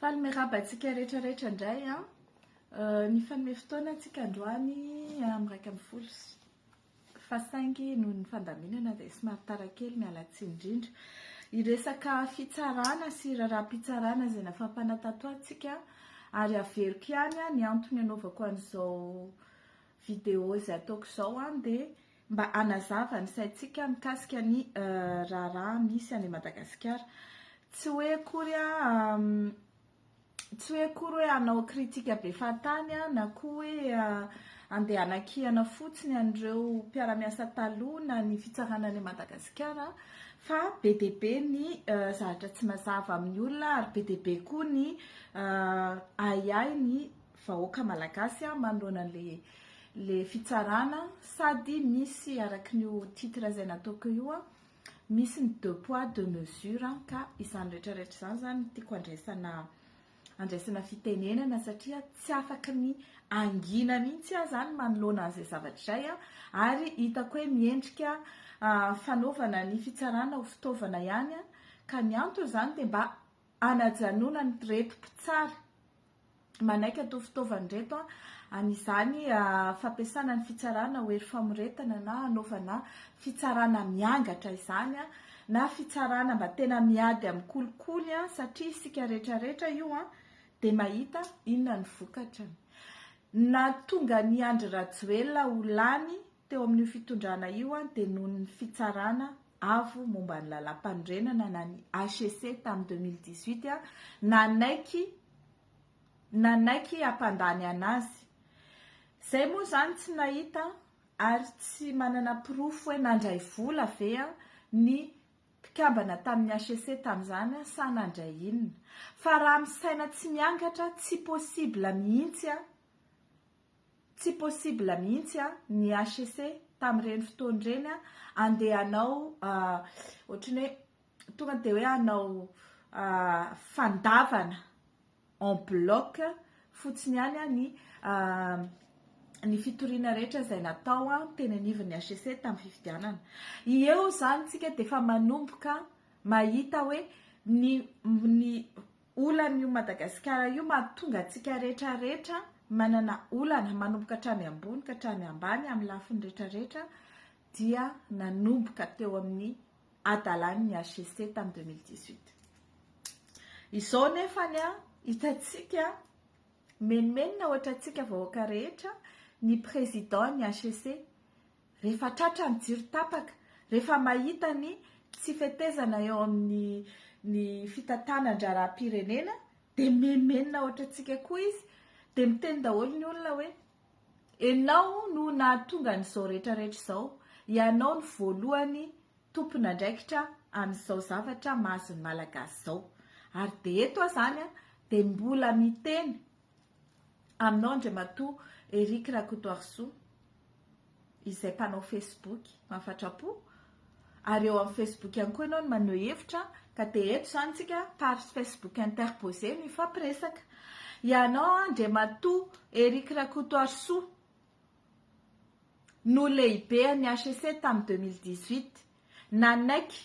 Faly miraba antsika rehetra rehetra indray an. Nifanome fotoana antsika androany amin'ny iraika ambin'ny folo fa saingy noho ny fandaminana dia somary tara kely miala tsiny indrindra. Hiresaka fitsarana sy raharaham-pitsarana izay nafampana tato antsika ary averiko ihany ny antony anaovako an'izao vidéo izay ataoko izao dia mba hanazava ny saintsika mikasika ny raharaha misy any Madagasikara. Tsy hoe akory tsy hoe akory hoe hanao kritika be fahatany aho na koa hoe handeha hanakihana fotsiny an'ireo mpiara-miasa taloha na ny fitsarana any Madagasikara fa be dia be ny zavatra tsy mazava amin'ny olona ary be dia be koa ny ahiahy ny vahoaka malagasy manoloana ilay fitsarana sady misy araka ny io titre izay nataoko io misy ny deux poids deux mesures ka izany rehetra rehetra izany izany tiako andraisana andraisana fitenenana satria tsy afaka ny angina mihitsy aho izany manoloana an'izay zavatra izay aho ary hitako hoe miendrika ah, fanaovana ny fitsarana ho fitaovana ihany ka ny antony izany dia mba anajanona ny reto mpitsara manaiky an'ito fitaovana ireto an'izany fampiasana ny fitsarana ho hery famoretana na hanaovana fitsarana miangatra izany na fitsarana mba tena miady amin'ny kolikoly satria isika rehetra rehetra io dia mahita inona ny vokatrany. Nahatonga an'i Andry Rajoelina ho lany Teo amin'io fitondrana io dia noho ny fitsarana avo momba ny lalàmpanorenana na ny HCC tamin'ny deux mille dix-huit nanaiky nanaiky hampandany an'azy. Izay moa izany tsy nahita ary tsy manana porofo hoe nandray vola ve ny mpikambana tamin'ny HCC tamin'izany sa nandray inona. Fa raha misaina tsy miangatra tsy possible mihitsy Tsy possible mihitsy an, ny HCC tamin'ireny fotoana ireny an, andeha hanao ohatran'ny hoe tonga dia hoe hanao fandavana en bloc fotsiny ihany an, ny ny fitoriana rehetra izay natao teny anivon'ny HCC tamin'ny fifidianana. Eo izany isika dia efa manomboka mahita hoe ny ny Olana io Madagasikara io mahatonga antsika rehetra rehetra manana olana manomboka hatrany ambony ka hatrany ambany amin'ny lafiny rehetra rehetra dia nanomboka teo amin'ny adalan'ny HCC tamin'ny 2018. Izao nefa ny hitantsika menomenona ohatra antsika vahoaka rehetra ny président ny HCC Rehefa tratra ny jiro tapaka, rehefa mahita ny tsy fetezana eo amin'ny ny fitantanan-draharaham-pirenena dia mihemenona ohatra antsika koa izy, dia miteny daholo ny olona hoe enao no nahatonga an'izao rehetra rehetra izao, ianao no voalohany tompon'andraikitra amin'izao zavatra mahazo ny Malagasy izao. Ary dia eto aho izany dia mbola miteny Aminao Andriamatoa Eric Rakotoarisoa izay mpanao Facebook mafatrapo ary eo amin'ny Facebook ihany koa ianao no maneho hevitra ka dia eto izany tsika par Facebook interposé no hifampiresaka. Ianao Andriamatoa Eric Rakotoarisoa no lehibean'ny HCC tamin'ny 2018 nanaiky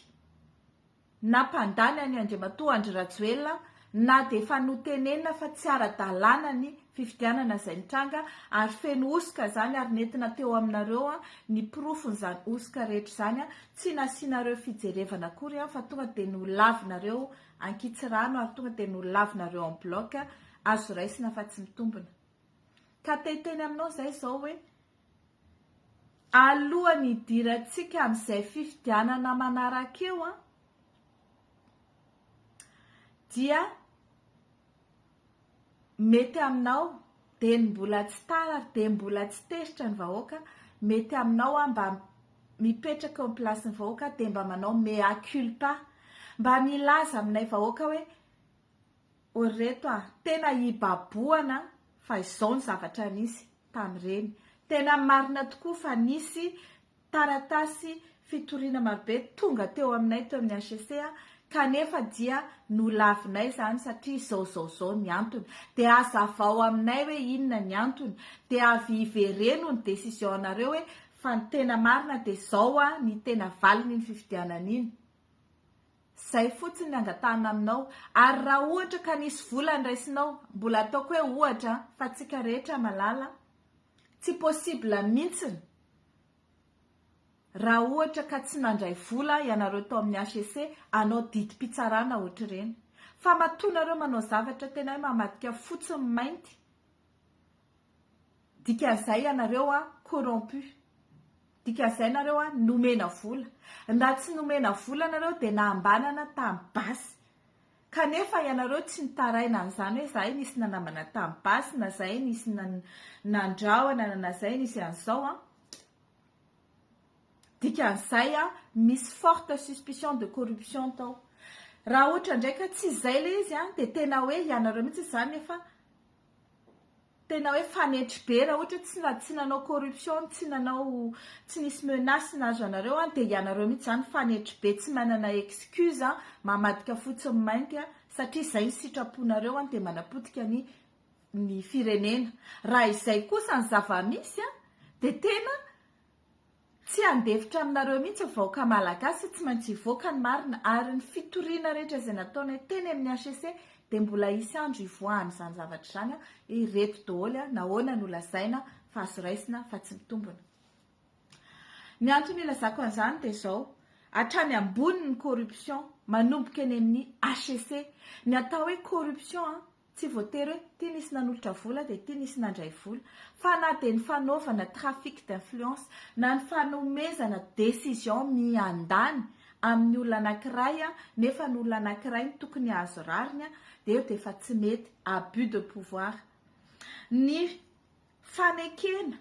nampandany an'i Andriamatoa Andry Rajoelina na dia efa notenenina fa tsy ara-dalàna ny fifidianana izay nitranga ary feno hosoka izany ary nentina teo aminareo ny porofon'izany hosoka rehetra izany, tsy nasianareo fijerevana akory fa tonga dia nolavinareo ankitsirano ary tonga dia nolavinareo en bloc, azo raisina fa tsy mitombina. Ka te hiteny aminao izahay izao hoe, alohan'ny hidirantsika amin'izay fifidianana manaraka eo an, dia mety aminao dia ny mbola tsy tara ary dia mbola tsy teritra ny vahoaka, mety aminao an mba mipetraka eo amin'ny plasin'ny vahoaka dia mba manao mea culpa, mba milaza aminay vahoaka hoe, Ô reto a! Tena hibabohana fa izao ny zavatra nisy tamin'ireny. Tena marina tokoa fa nisy taratasy fitoriana marobe tonga teo aminay teo amin'ny HCC kanefa dia nolavinay izany satria izao izao izao ny antony. Dia hazavao aminay hoe inona ny antony. Dia avy hivereno ny décision-nareo hoe fa ny tena marina dia izao ny tena valin'iny fifidianana iny. Izay fotsiny ny angatahana aminao. Ary raha ohatra ka nisy vola niraisinao, mbola ataoko hoe ohatra an, fa tsika rehetra malala, tsy possible mintsiny raha ohatra ka tsy nandray vola ianareo tao amin'ny HEC, hanao didim-pitsarana ohatr'ireny. Fa matoa nareo manao zavatra tena hoe mamadika fotsy ny mainty. Dikazay ianareo a corrompu. Dikazay nareo a nomena vola. Raha tsy nomena vola nareo dia nambanana tamin'ny basy. Kanefa ianareo tsy nitaraina an'izany hoe zahay nisy nanambana tamin'ny basy na zahay nisy nandrahona na zahay nisy an'izao a. Dikan'izay a misy forte suspicion de corruption tao. Raha ohatra indray ka tsy izay ilay izy a dia tena hoe ianareo mihitsy izany efa tena hoe fanetry be raha ohatra tsy na tsy nanao corruption tsy nanao tsy nisy menace nahazo anareo an dia ianareo mihitsy izany fanetry be tsy manana excuse an mamadika fotsiny mainty an satria izay ny sitraponareo an dia manapotika ny ny firenena raha izay kosa ny zava-misy an dia tena Tsy handefitra aminareo mihitsy ny vahoaka Malagasy, tsy maintsy hivoaka ny marina, ary ny fitoriana rehetra izay nataonay teny amin'ny HCC dia mbola hisy andro hivoahan'izany zavatra izany, ireto daholo nahoana no lazaina fa azo raisina fa tsy mitombina. Ny antony ilazako an'izany dia izao, hatrany ambony ny corruption, manomboka eny amin'ny HCC, ny atao hoe corruption an, Tsy voatery hoe ity nisy nanolotra vola dia ity nisy nandray vola, fa na dia ny fanaovana trafic d'influence na ny fanomezana décision miandany amin'ny olona anankiray nefa ny olona anankiray no tokony hahazo rariny dia io dia efa tsy mety, abus de pouvoir. Ny fanekena.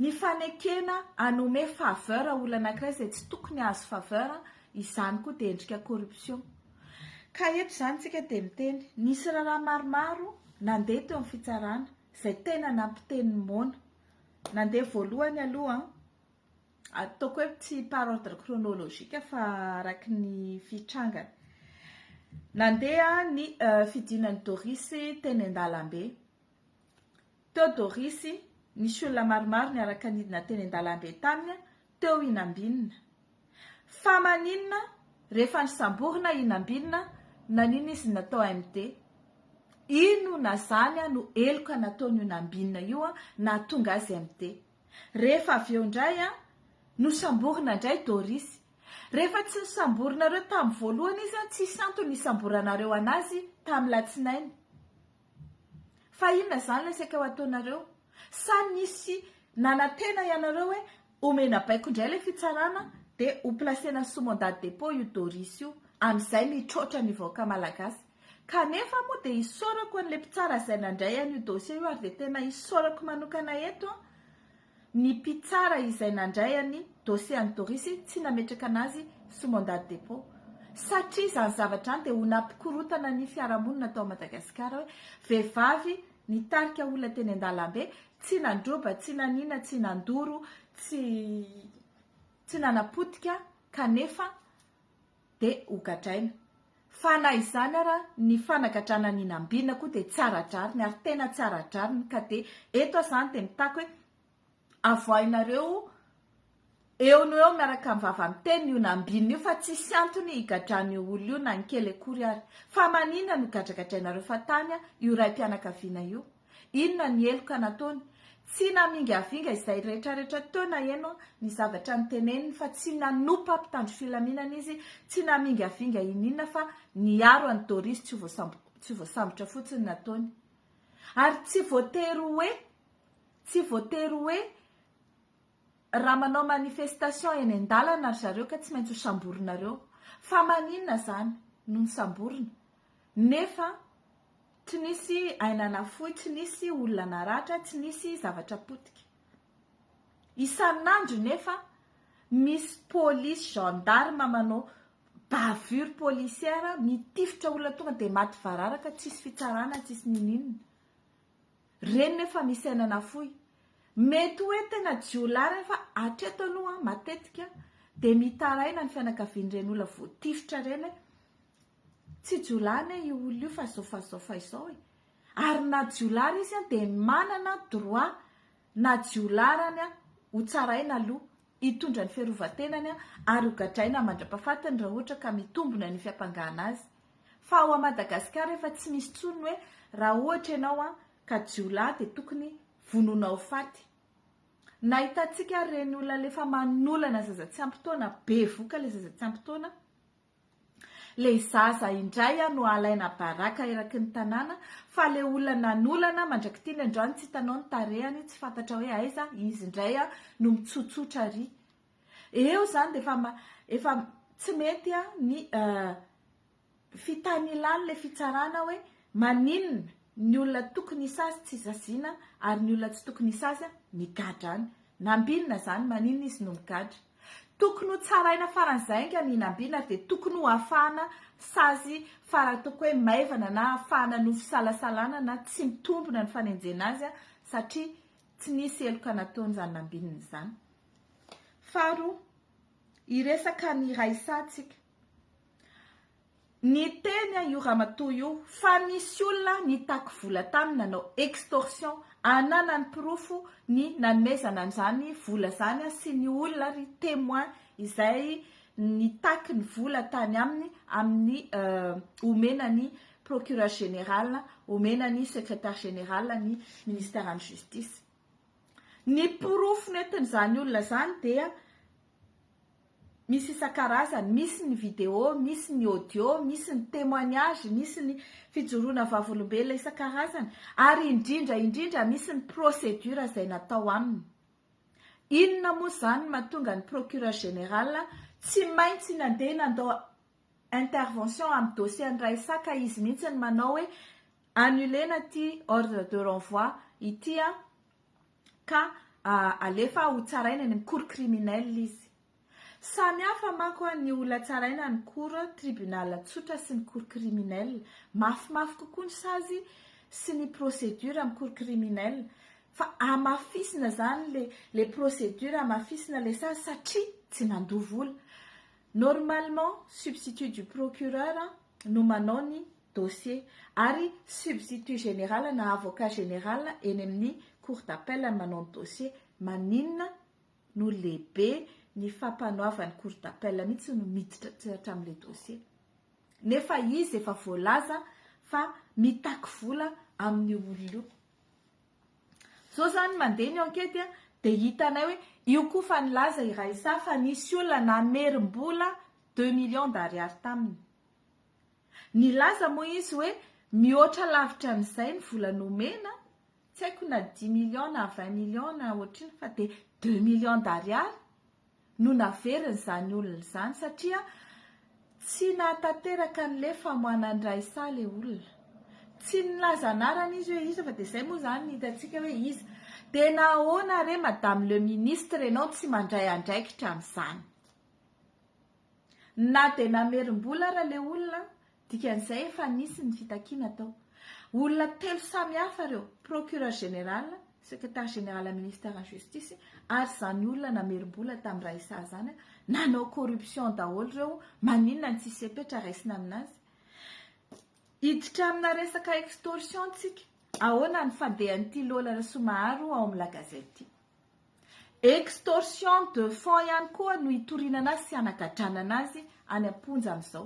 Ny fanekena hanome faveur olona anankiray izay tsy tokony hahazo faveur, izany koa dia endrika corruption. Ka eto izany isika dia miteny, nisy raharaha maromaro nandeha teo amin'ny fitsarana izay tena nampiteny moana. Nandeha voalohany aloha, ataoko hoe tsy par ordre chronologique fa araka ny fitrangany. Nandeha ny fidinan'i Doris teny an-dalambe. Teo Dorisy, nisy olona maromaro niaraka nidina teny an-dalambe taminy teo i Nambinina. Fa maninona rehefa nisamborina i Nambinina naninona izy natao MD? Inona zany no heloka nataon'io Nambinina io nahatonga azy MD? Rehefa avy eo indray nosamborina indray Dorisy. Rehefa tsy nosamborinareo tamin'ny voalohany izy tsisy antony hisamboranareo anazy tamin'ny latsinainy. Fa inona izany ilay saika ho ataonareo? Sa nisy nanantena ianareo hoe omena baiko indray ilay fitsarana dia ho placena sous mandat de dépôt io Doris io, amin'izay mitroatra ny vahoaka malagasy? Kanefa moa dia isaorako an'ilay mpitsara izay nandray an'io dossier io ary dia tena isaorako manokana eto an! Ny mpitsara izay nandray an'i dossier an'i Dorisy tsy nametraka anazy sous mandat de dépôt satria izany zavatra izany dia ho nampikorotana ny fiarahamonina tao Madagasikara hoe vehivavy nitarika olona teny an-dalambe tsy nandroba, tsy nanina, tsy nandoro, tsy tsy nanapotika kanefa dia hogadraina. Fa na izany ara ny fanagadrana ny nambiana koa dia tsara drariny ary tena tsara drariny ka dia eto aho izany dia mitaky hoe avoahinareo eo no eo miaraka amin'ny vava miteny io nambiana io fa tsisy antony higadrana io olona io na ny kely akory ary. Fa maninona no gadragadrainareo fa tany io raim-pianakaviana io? Inona ny heloka nataony? Tsy namingavinga izay rehetrarehetra teo naheno ny zavatra noteneniny fa tsy nanompa mpitandro filaminana izy, tsy namingavinga ininona fa niaro an'i Doris tsy ho voasambotra fotsiny nataony. Ary tsy voatery hoe, tsy voatery hoe raha manao manifestation eny an-dalana ry zareo ka tsy maintsy ho samborinareo. Fa maninona izany no nisamborina? Nefa tsy nisy aina nafoy, tsy nisy olona naratra, tsy nisy zavatra potika. Isan'andro nefa misy polisy, gendarme manao bavure policière, mitifitra olona tonga dia maty vararaka, tsisy fitsarana, tsisy ninoninona. Ireny nefa misy aina nafoy. Mety hoe tena jiolahy ireny fa hatreto aloha matetika dia mitaraina ny fianakavian'ireny olona voatifitra ireny hoe Tsy jiolahy anie io olona io fa izao fa izao fa izao e! Ary na jiolahy ary izy dia manana droit na jiolahy ary an, ho tsaraina aloha, hitondra ny fiarovan-tenany an, ary ho gadraina mandra-pahafatiny raha ohatra ka mitombina ny fiampangana azy. Fa ao Madagasikara efa tsy misy intsony ny hoe raha ohatra ianao an, ka jiolahy dia tokony vonoina ho faty. Nahitantsika ary ireny olona alefa manolana zaza tsy ampy taona, bevoka ilay zaza tsy ampy taona, Le zaza indray a no alaina baraka eraky ny tanàna fa le olona nanolana mandrak'itiny androany tsy hitanao ny tarehany tsy fantatra hoe aiza izy indray a no mitsotsotra ary eo zany de efa efa tsy mety a ny fitanilan'le fitsarana hoe maninona ny olona tokony hisazy tsy saziana ary ny olona tsy tokony hisazy migadra any. Nambinina izany, maninona izy no migadra? Tokony ho tsaraina faran'izay anga ny nambinina ary dia tokony ho afahana sazy faran'ny ataoko hoe maivana na afahana no fisalasalana na tsy mitombina ny fanenjena azy satria tsy nisy heloka nataony izany nambinina izany. Faharoa, hiresaka ny Raissa tsika. Niteny io ramatoa io fa nisy olona nitaky vola taminy nanao extorsion, ananany porofo ny nanomezana an'izany vola izany sy ny olona ary témoin izay nitaky ny vola tany aminy amin'ny omena ny procureur général, omena ny secrétaire général ny ministère ny justice. Ny porofo nentin'izany olona izany dia Misy isan-karazany, misy ny video, misy ny audio, misy ny témoignage, misy ny fijoroana vavolombelona isan-karazany ary indrindra indrindra misy ny procédure izay natao aminy. Inona moa izany no mahatonga ny Procureur Général tsy maintsy nandeha nandao intervention amin'ny dossier an'i Raissa ka izy mihitsy no manao hoe annuler-na ity ordre de renvoi ity an! ka alefa ho tsaraina eny amin'ny cour criminelle izy. Samy hafa manko ny olona tsaraina ny cour tribunal tsotra sy ny cour criminelle. Mafimafy kokoa ny sazy sy ny procédure amin'ny cour criminelle fa hamafisina izany ilay ilay procédure, hamafisina ilay sazy satria tsy mandoa vola. Normalement, substitut du procureur no manao ny dossier, ary substitut général na avocat général eny amin'ny cour d'appel ny manao ny dossier, maninona no lehibe ny fampanoavan'ny cour d'appel mihitsy no miditra hatramin'ilay dossier? Nefa izy efa voalaza fa mitaky vola amin'io olona io. Zao zany mandeha ny enquête dia hitanay hoe io koa fa nilaza i Raissa fa nisy olona namerim-bola deux millions d'ariary taminy. Nilaza moa izy hoe mihoatra lavitra an'izay ny vola nomena, tsy haiko na dix millions na vingt millions na ohatr'inona fa dia deux millions d'ariary no naverin'izany olona izany satria tsy nahatanteraka an'ilay famoanan-dra isa ilay olona. Tsy nilaza anarana izy hoe iza fa dia izay moa izany no hitantsika hoe iza. Dia nahoana re Madame le Ministre ianao tsy mandray andraikitra amin'izany? Na dia namerim-bola ara ilay olona, dikan'izay efa nisy ny fitakiana atao. Olona telo samy hafa ireo, Procureur Général, Secrétaire Général am Ministère an Justice ary izany olona namerim-bola tamin'ny Raissa izany, nanao corruption daholo ireo, maninona no tsisy fepetra raisina aminazy? Hiditra amina resaka extorsion tsika, ahoana ny fandehan'ity Lola Rasoamaharo ao amin'ny La Gazette ity? Extorsion de fonds ihany koa no itoriana anazy sy hanagadràna anazy any am-ponja amin'izao.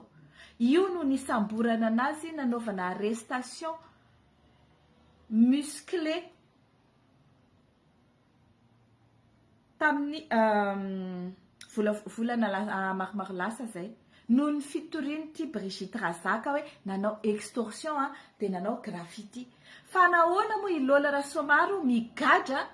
Io no nisamborana anazy nanaovana arrestation musclée tamin'ny vola volana maromaro lasa izay noho ny fitorian'ity Brigitte Razaka hoe nanao extorsion dia nanao graffiti. Fa nahoana moa i Lola Rasoamaro migadra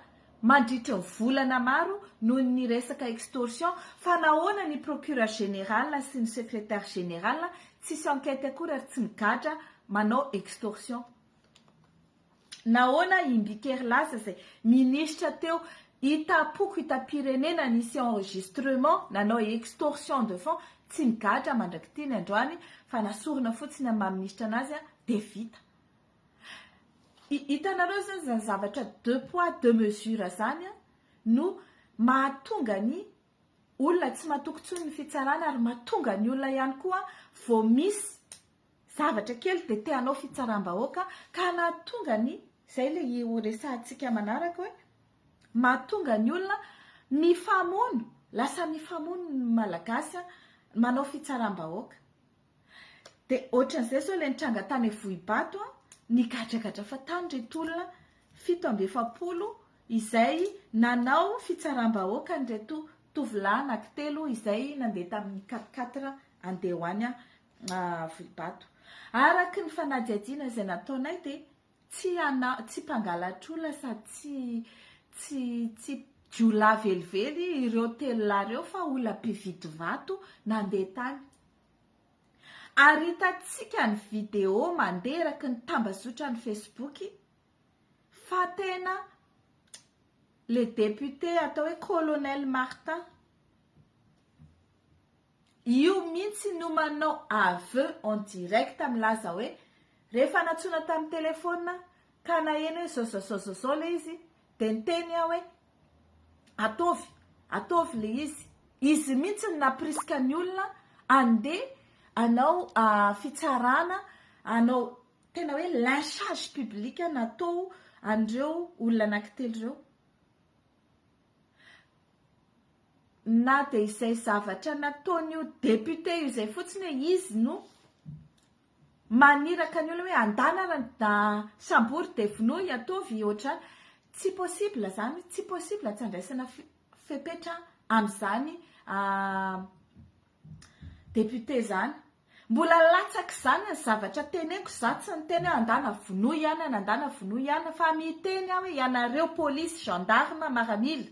mandritra ny volana maro noho ny resaka extorsion fa nahoana ny procureur général sy ny secrétaire général tsisy enquête akory ary tsy migadra manao extorsion nahoana i Mbikeri lasa zay ministra teo itapoko itapirenena nisy enregistrement nanao extorsion de fond tsy migadra mandrak'ity ny androany fa nasorina fotsiny amin'ny maha ministra anazy dia vita Hitanareo izany izany zavatra deux poids deux mesures izany no mahatonga ny olona tsy matoky intsony ny fitsarana ary mahatonga ny olona ihany koa vao misy zavatra kely dia te hanao fitsaram-bahoaka ka nahatonga ny izay ilay ho resahantsika manaraka hoe mahatonga ny olona mifamono, lasa mifamono ny Malagasy manao fitsaram-bahoaka. Dia ohatran'izay izao ilay nitranga tany Vohibato an, nigadragadra fa tany ireto olona fito amby efapolo izay nanao fitsaram-bahoaka an'ireto tovolahy anankitelo izay nandeha tamin'ny quatre quatre handeha ho any Vohibato. Araka ny fanadihadiana izay nataonay dia Tsy ana, tsy mpangalatr'olona sady tsy tsy tsy jiolahy velively ireo telo lahy ireo fa olona mpividy vato nandeha tany. Ary hitantsika ny vidéo mandeha eraky ny tambazotran'ny Facebook fa tena le député atao hoe Colonel Martin Io mintsy no manao aveux en direct milaza hoe rehefa nantsoina tamin'ny telephone ka naheno hoe zao zao zao zao zao le izy de niteny aho hoe ataovy ataovy le izy izy mintsy no nampirisika ny olona andeha anao fitsarana anao tena hoe lynchage public natao an'ireo olona anankitelo ireo. na dia izay zavatra nataon'io député io izay fotsiny hoe izy no maniraka ny olona hoe andana ra sambory dia vonoy ataovy ohatrany tsy possible zany tsy possible tsy andraisana fepetra amin'izany ah, Député zany. Mbola latsaka zany ny zavatra teneniko za tsy niteny hoe andana vonoy ihany an andana vonoy ihany an fa miteny aho hoe ianareo police gendarme maramila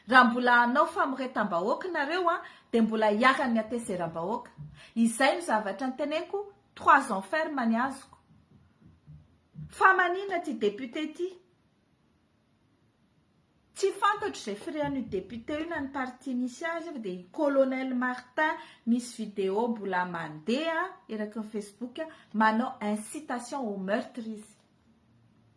raha mbola hanao famoretam-bahoaka nareo an de mbola iharan'ny hatezeram-bahoaka izay no zavatra niteneniko trois ans ferme ny azoko fa manina ty député ty Tsy fantatro izay firehan'io député io na ny parti nisy azy io fa dia colonel Martin misy vidéo mbola mandeha eraky ny Facebook manao incitation au meurtre izy.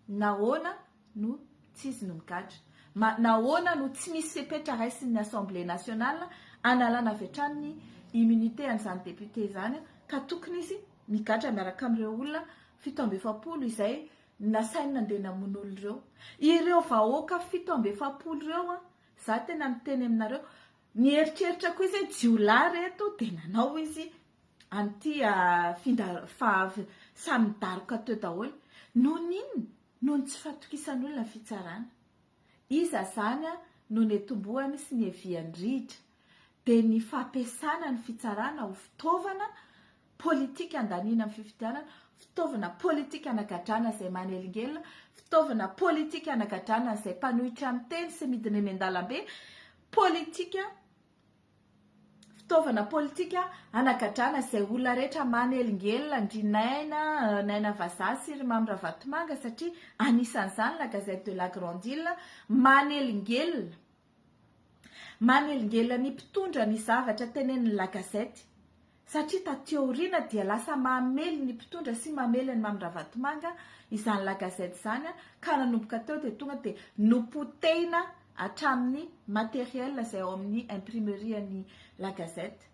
Nahoana no tsy izy no migadra? Ma- nahoana no tsy misy fepetra raisin'ny Assemblée nationale analana avy hatrany ny immunité an'izany député izany ka tokony izy migadra miaraka amin'ireo olona fito amby efapolo izay Nasainy nandeha namono olona ireo. Ireo vahoaka fito amby efapolo ireo an, za tena miteny aminareo, nieritreritra koa izy hoe jiolahy re eto dia nanao izy an'ity samy nidaroka teo daholo. Noho ny inona? Noho ny tsy fahatokisan'olona ny fitsarana. Iza izany no netombohany sy nieviany rihitra? Dia ny fampiasana ny fitsarana ho fitaovana politika andaniana amin'ny fifidianana, fitaovana politika anagadrana izay manelingelina, fitaovana politika anagadrana izay mpanohitra ny teny sy midina eny an-dalambe, politika fitaovana politika anagadrana izay olona rehetra manelingelina, ndry Naina, Naina Vazaha sy ry Mamy Ravatomanga satria anisan'izany la Gazette de la Grande Ile, manelingelina. Manelingelina ny mpitondra ny zavatra tenenin'ny La Gazette satria taty aoriana dia lasa mamely ny mpitondra sy mamely an'i Mamy Ravatomanga izany La Gazette izany ka nanomboka teo dia tonga dia nopotehina hatramin'ny matériel izay ao amin'ny imprimerie-n'ny La Gazette.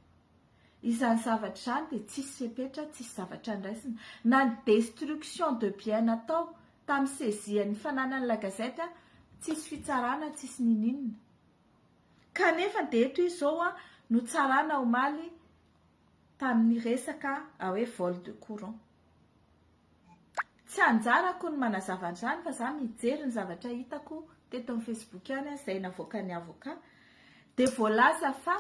Izany zavatra izany dia tsisy fepetra, tsisy zavatra andraisina. Na ny destruction de bien natao tamin'ny saisie ny fananan'ny la gazette tsisy fitsarana, tsisy ninininona. Kanefa dia eto izy izao no tsarana omaly tamin'ny resaka hoe vol de courant. Tsy anjarako ny manazava an'izany fa za mijery ny zavatra hitako teto amin'ny Facebook ihany an, izay navoakan'ny avocat dia voalaza fa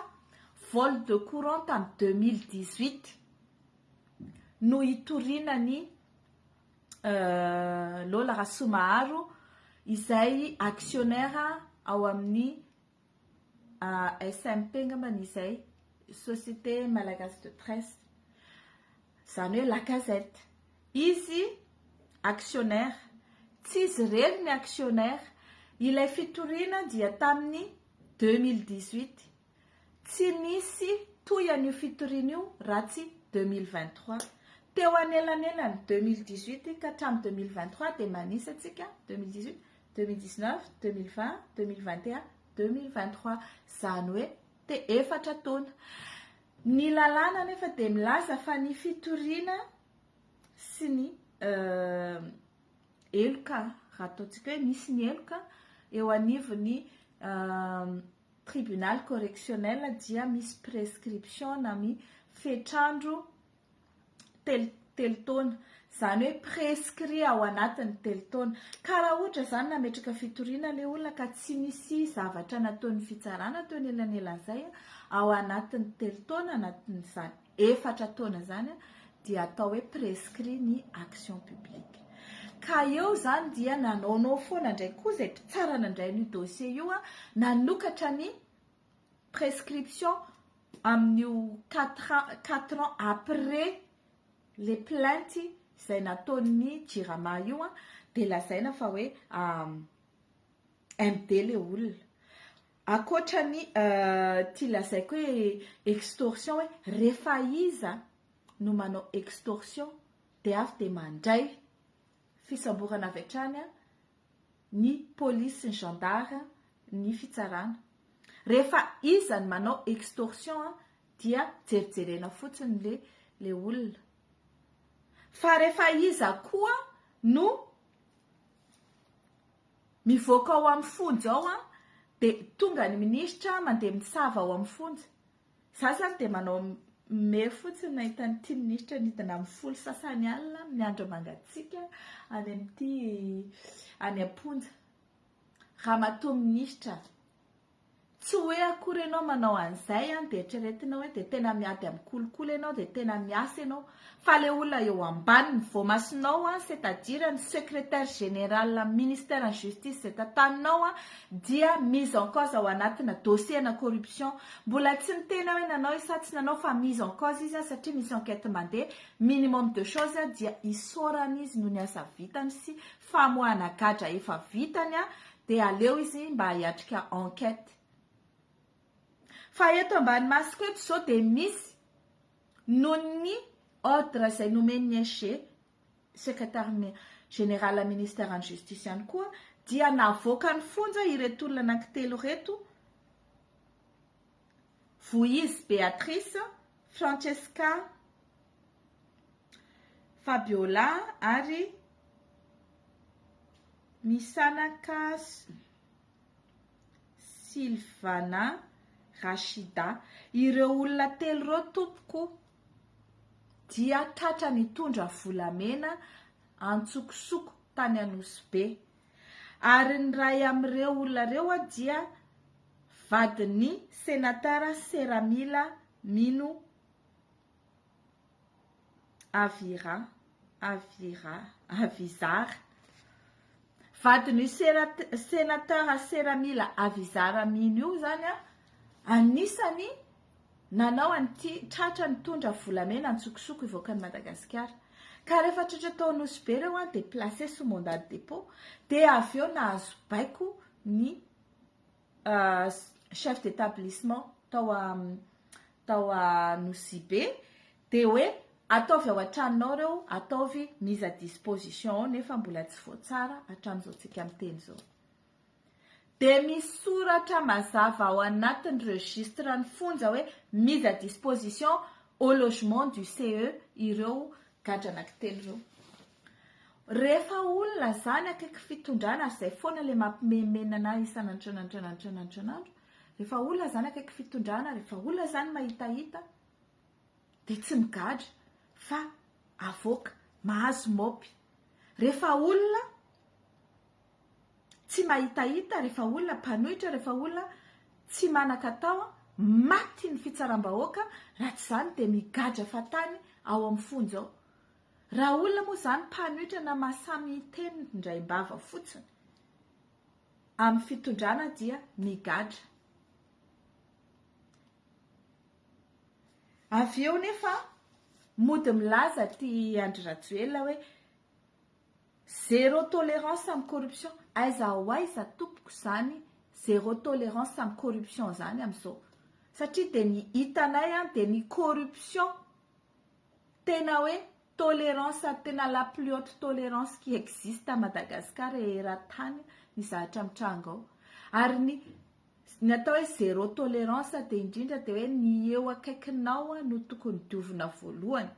vol de courant tamin'ny deux mille dix huit no hitoriana ny Lola Rasoamaharo izay actionnaire ao amin'ny ASMP angamba ny izay, société malagasy de presse, izany hoe la gazette, izy actionnaire, tsy izy irery ny actionnaire, ilay fitoriana dia tamin'ny deux mille dix huit, tsy nisy toy an'io fitoriana io raha tsy deux mille vingt trois, teo anelanelany deux mille dix huit ka hatramin'ny deux mille vingt trois dia manisa isika deux mille dix huit, 2019, 2020, 2021, 2023. Izany hoe te efatra taona. Ny lalàna anefa dia milaza fa ny fitoriana sy ny heloka, raha ataontsika hoe misy ny heloka eo anivon'ny tribunal correctionnel dia misy prescription na mi fetrandro telo telo taona zany hoe prescrit ao anatin'ny telo taona ka raha ohatra zany nametraka fitoriana le olona ka tsy misy zavatra nataon'ny fitsarana teo anelanelan'izay ao anatin'ny telo taona anatin'izany efatra taona zany dia atao hoe prescrit ny action publique ka eo zany dia nanaonao foana indray koa izay mpitsarana indray ny dossier io a nanokatra ny prescription amin'io quatre ans quatre ans après le plainte izay nataon'ny jirama io an dia lazaina fa hoe MD le olona akoatra ny ity lazaiko hoe extorsion hoe rehefa iza no manao extorsion dia avy dia mandray fisamborana avy hatrany an ny police sy ny gendarme ny fitsarana rehefa iza ny manao extorsion a dia jerijerena fotsiny le le olona fa rehefa iza koa no mivoaka ao amin'ny fonja ao a de tonga ny ministra mandeha mitsava ao amin'ny fonja Za zany dia manao me fotsiny nahita an'ity minisitra nidina amin'ny folo sasany alina miandry mangatsiaka any amin'ity any am-ponja. Ramatoa minisitra, tsy hoe akory ianao manao an'izay an, dia eritreretinao hoe dia tena miady amin'ny kolikoly ianao dia tena miasa ianao. Fa le olona eo ambaniny, voamasonao an, c'est à dire ny secretaire général am ministère ny justice zay tantaninao an, dia mise en cause ao anatina dossier ana corruption, mbola tsy miteny aho hoe nanao izy sa tsy nanao fa mise en cause izy an satria misy enquête mandeha, minimum de chose an dia isaorana izy noho ny asa vitany sy famoahana gadra efa vitany an, dia aleo izy mba hiatrika enquête. Fa eto ambany masoko eto zao dia misy. noho ny ordre izay nomen'ny SG, Secretary Général Ministère an'ny Justice ihany koa dia navoakan'ny fonja ireto olona anankitelo ireto, Vohizy Béatrice, Francesca Fabiola ary Misanaka. Sylvana Rachida. Ireo olona telo ireo tompoko dia tratra nitondra volamena antsokosoko tany Anosy Be. Ary ny ray amin'ireo olona ireo dia vadin'ny Sénateur Seramila Mino Avira, Avira, Avizara. Vadin'io Senateur Sera Mila Avizara Amin io izany anisany nanao an'ity tratra nitondra volamena antsokosoko hivoaka an'i Madagasikara. Ka rehefa tratra tao Nosy Be ireo dia placé sous mandat de dépôt dia avy eo nahazo baiko ny chef d'établissement tao a tao a Nosibe dia hoe ataovy ao an-tranonao ireo ataovy mise à disposition ao nefa mbola tsy voatsara hatramin'izao tsika miteny izao dia misy soratra mazava ao anatin'ny registre ny fonja hoe mise à disposition au logement du CE ireo gadra anankitelo ireo Rehefa olona zany akaiky fitondrana ary zay foana le mampimenomenona anah isan'antranatranatranatranatranaandro rehefa olona zany akaiky fitondrana rehefa olona zany mahitahita de tsy migadra fa avoaka mahazo mopy rehefa olona tsy mahitahita rehefa olona mpanohitra rehefa olona tsy manan-katao maty ny fitsaram-bahoaka raha tsy zany de migadra fatany ao amin'ny fonja ao Raha olona moa izany mpanohitra na masamiteny indraim-bava fotsiny amin'ny fitondrana dia migadra. Avy eo nefa mody milaza ty Andry Rajoelina hoe zéro tolérance amin'ny corruption. Aiza ho aiza tompoko izany zéro tolérance amin'ny corruption izany amin'izao? Satria dia ny hitanay dia ny corruption Tena hoe tolerance ary tena la plus haute tolerance qui existe à Madagascar et eran-tany ny zavatra mitranga ao. Ary ny ny atao hoe zéro tolerance dia indrindra dia hoe ny eo akaikinao no tokony diovina voalohany.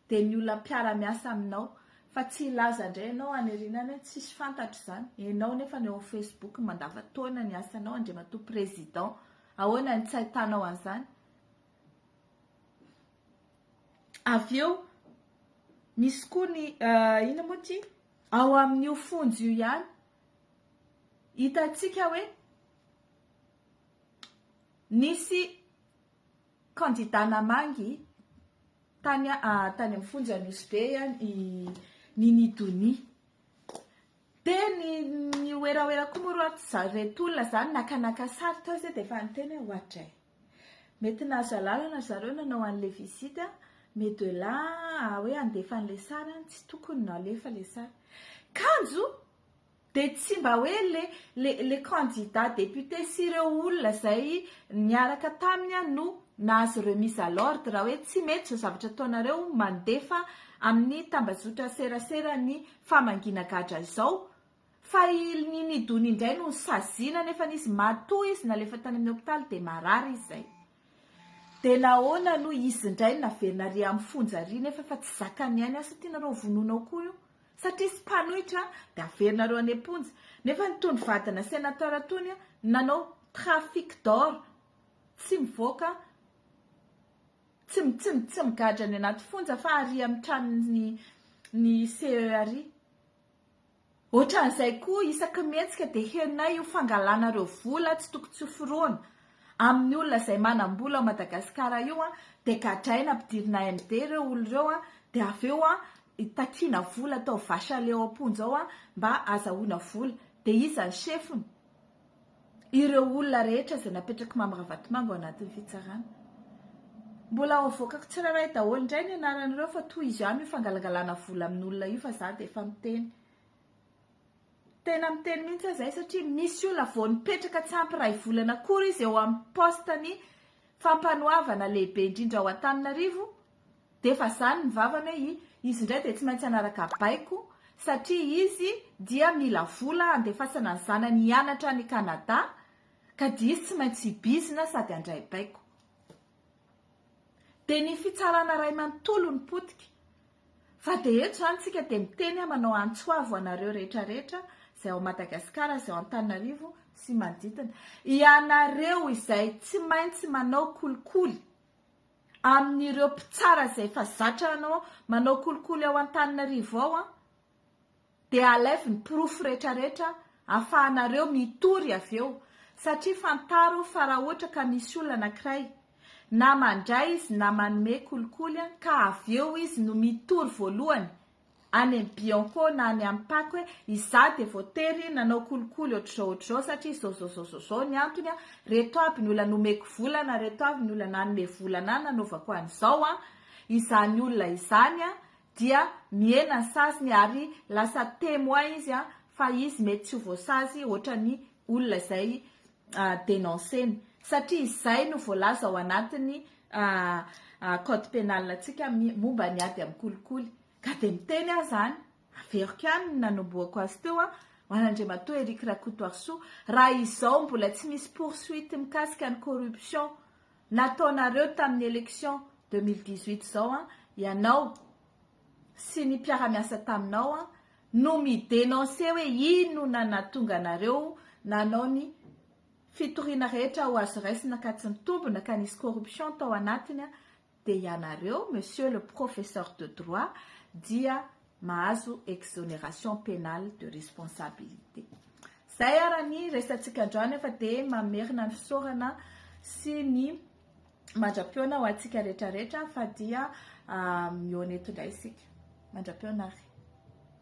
Dia ny olona mpiara-miasa aminao fa tsy hilaza indray ianao any aoriana any hoe tsisy fantatra izany. Ianao nefa no eo amin'ny Facebook mandava-taona ny asanao, Andriamatoa Président. Ahoana ny tsy ahitanao an'izany? Avy eo misy koa ny uh, ina moa ty? Ao amin'io fonjy io ihany hitantsika hoe nisy kandida namangy tany uh, tany amin'ny fonja Nosbe ihany i Nini Donia. Dia ny ny werawera koa moa roa ry zany nakanaka sary tao izay dia efa niteny hoe hoatray. Mety nahazo alalana zareo nanao anle visite mais de là à hoe handefa anle sary an tsy tokony nalefa le sary. Kanjo de tsy mba hoe le le le candidat député sy ireo olona zay niaraka taminy an no nahazo remise à l'ordre hoe tsy mety zao zavatra ataonareo mandefa amin'ny tambazotra serasera ny famangiana gadra izao Fa i Ilni Nidun indray no saziana nefa nisy maty toa izy nalefa tany amin'ny hopitaly dia marary izy izay. Dia nahoana no izy indray no naverina ary amin'ny fonja ary nefa efa tsy zakan'ny ainy asa tianareo hovonoina ao koa io satria izy mpanohitra dia averinareo any am-ponja nefa nitondro vadina senateur tony nanao trafic d'or tsy mivoaka tsy tsy tsy migadra any anaty fonja fa ary amin'ny tranony ny CERI. Ohatran'izay koa isaky mihetsika dia herinay io fangalanareo vola tsy toko tsy ho foroana amin'ny olona izay manam-bola ao Madagasikara io an, dia gadraina ampidirina MD ireo olona ireo an, dia avy eo an takiana vola atao vache à lait ao am-ponja ao an mba azahoana vola, dia iza ny chefny? ireo olona rehetra izay napetrak'i Mamy Ravatomanga ao anatin'ny fitsarana. Mbola ho avoakako tsirairay daholo indray ny anaran'ireo fa toy izy ihany io fangalangalana vola amin'olona io fa za dia efa miteny. Tena miteny mihitsy aho izay satria misy olona vao nipetraka tsy ampy iray volana akory izy eo amin'ny poste-ny fampanoavana lehibe indrindra ao Antananarivo D'efa zany ny vavany hoe i izy indray dia tsy maintsy hanaraka baiko satria izy dia mila vola handefasana ny zanany hianatra any Canada ka dia izy tsy maintsy hibizina sady handray baiko. Dia ny fitsarana ray manontolo no potika. Fa dia eto zany tsika dia miteny aho manao antso avo anareo rehetra rehetra izay ao Madagasikara izay ao Antananarivo sy manodidina. Ianareo izay tsy maintsy manao kolikoly. amin'ireo mpitsara izay efa zatra hanao manao kolikoly ao Antananarivo ao an, dia alaivo ny porofo rehetra rehetra afahanareo mitory avy eo, satria fantaro fa raha ohatra ka misy olona anankiray na mandray izy na manome kolikoly an ka avy eo izy no mitory voalohany any amin'ny Bianco na any amin'ny Pako hoe izaho dia voatery nanao kolikoly ohatr'izao ohatr'izao satria izao izao izao izao izao ny antony an, reto aby ny olona nomeko vola na reto avy ny olona nanome vola anah nanaovako an'izao an, izany olona izany an dia mihena ny saziny ary lasa témoin izy an fa izy mety tsy ho voasazy ohatran'ny olona izay denoncer-ny satria izay no voalaza ao anatin'ny code pénal antsika momba ny ady amin'ny kolikoly ka dia miteny aho izany, averiko ihany ny nanombohako azy teo an! ho an'Andriamatoa Eric Rakotoarisoa, raha izao mbola tsy misy poursuite mikasika ny corruption nataonareo tamin'ny élection deux mille dix-huit izao an! ianao sy ny mpiara-miasa taminao no mi-denoncer hoe inona nahatonga anareo nanao ny fitoriana rehetra ho azo raisina ka tsy nitombina ka nisy corruption tao anatiny dia ianareo monsieur le professeur de droit dia mahazo exoneration penale de responsabilité. Zay ara ny resatsika androany fa dia mamerina ny fisaorana sy ny Mandra-piona ho antsika rehetra rehetra fa dia mihoana eto indray isika. Mandra-piona ary.